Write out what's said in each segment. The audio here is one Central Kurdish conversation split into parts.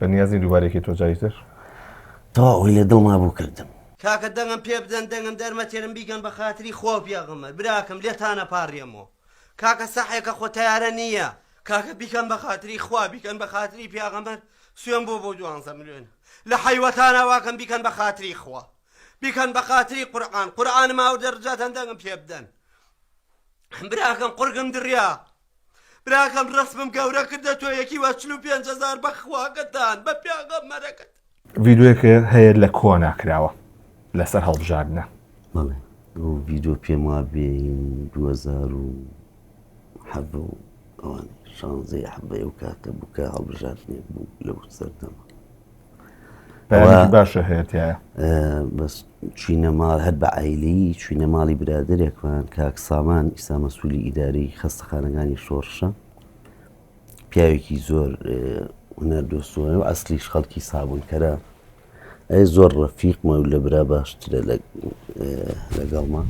بەنیاز نیم دووبارە یەکەی تۆ جاری تر. تەواو ئەوەی لە دڵما بوو کردم. کاکە دەنگم پێ بدەن دەنگم دەرمەتێرم بیگەن بەخاتری خوا و پێغەمبەر براکەم لێتان ئەپاڕێمەوە کاکە سەحێکە خۆ تەیارە نییە. کاکە بیکەن بەخاتری خوا بیکەن بەخاتری پیاغەمبەر سوێن بۆ بۆ دوانزە ملوێن لە حەیوەتان ئاواکەم بیکەن بەخاتری خوا بیکەن بەخاتری قورعان قورعانم ئاوردە رجاتان دەنگم پێ بدەن براکەم قورگم دریا براکەم ڕسمم گەورە کردە تۆ یەکی وە چل و پێنج هەزار بە خواگەتان بە پیاغەمەرەکەت ڤیدیۆیەکە هەیە لە کۆنا کراوە لەسەر هەڵبژاردنە بەڵێ ئەو ڤیدیۆ پێم وا بێ 2000 و حەب و ئەوان شانزەی حەبەیە و کاتە بووکە هەڵبژاردنێک بوو لەو سەردەمە باشە هەیەە بەس چینە ماڵ هەر بە ئایلی چینە ماڵی برادێکمان کاک سامان ئیستا مەسوولی ئیداری خەستەخانەکانی شۆڕشە پیاوێکی زۆر هونەر دۆستۆنە و ئەسلیش خەڵکی سابوونکەرە ئەی زۆر ڕەفیقمە و لە برا باشترە لەگەڵمان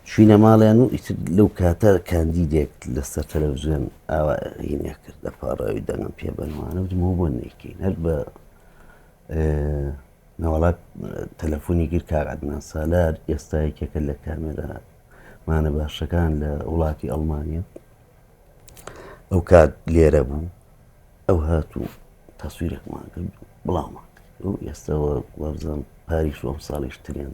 چوینە ماڵیان و ئیتر لەو کاتە کاندیدێک لەسەر تەلەڤزیۆن ئاوا هینێ کرد لە پاڕاوی دەنگم پێ بەنوانە بتمەوە بۆ نەیکەین هەر بە ناوەڵات تەلەفۆنی گر کاگعدنان سالار ئێستا یەکێکە لە کامێرا مانە باشەکان لە وڵاتی ئەڵمانیا ئەو کات لێرە بوو ئەو هاتوو تەسویرێکمان کرد بڵاومان ئێستەوە وابزان پاریش ئەم ساڵیش ترێن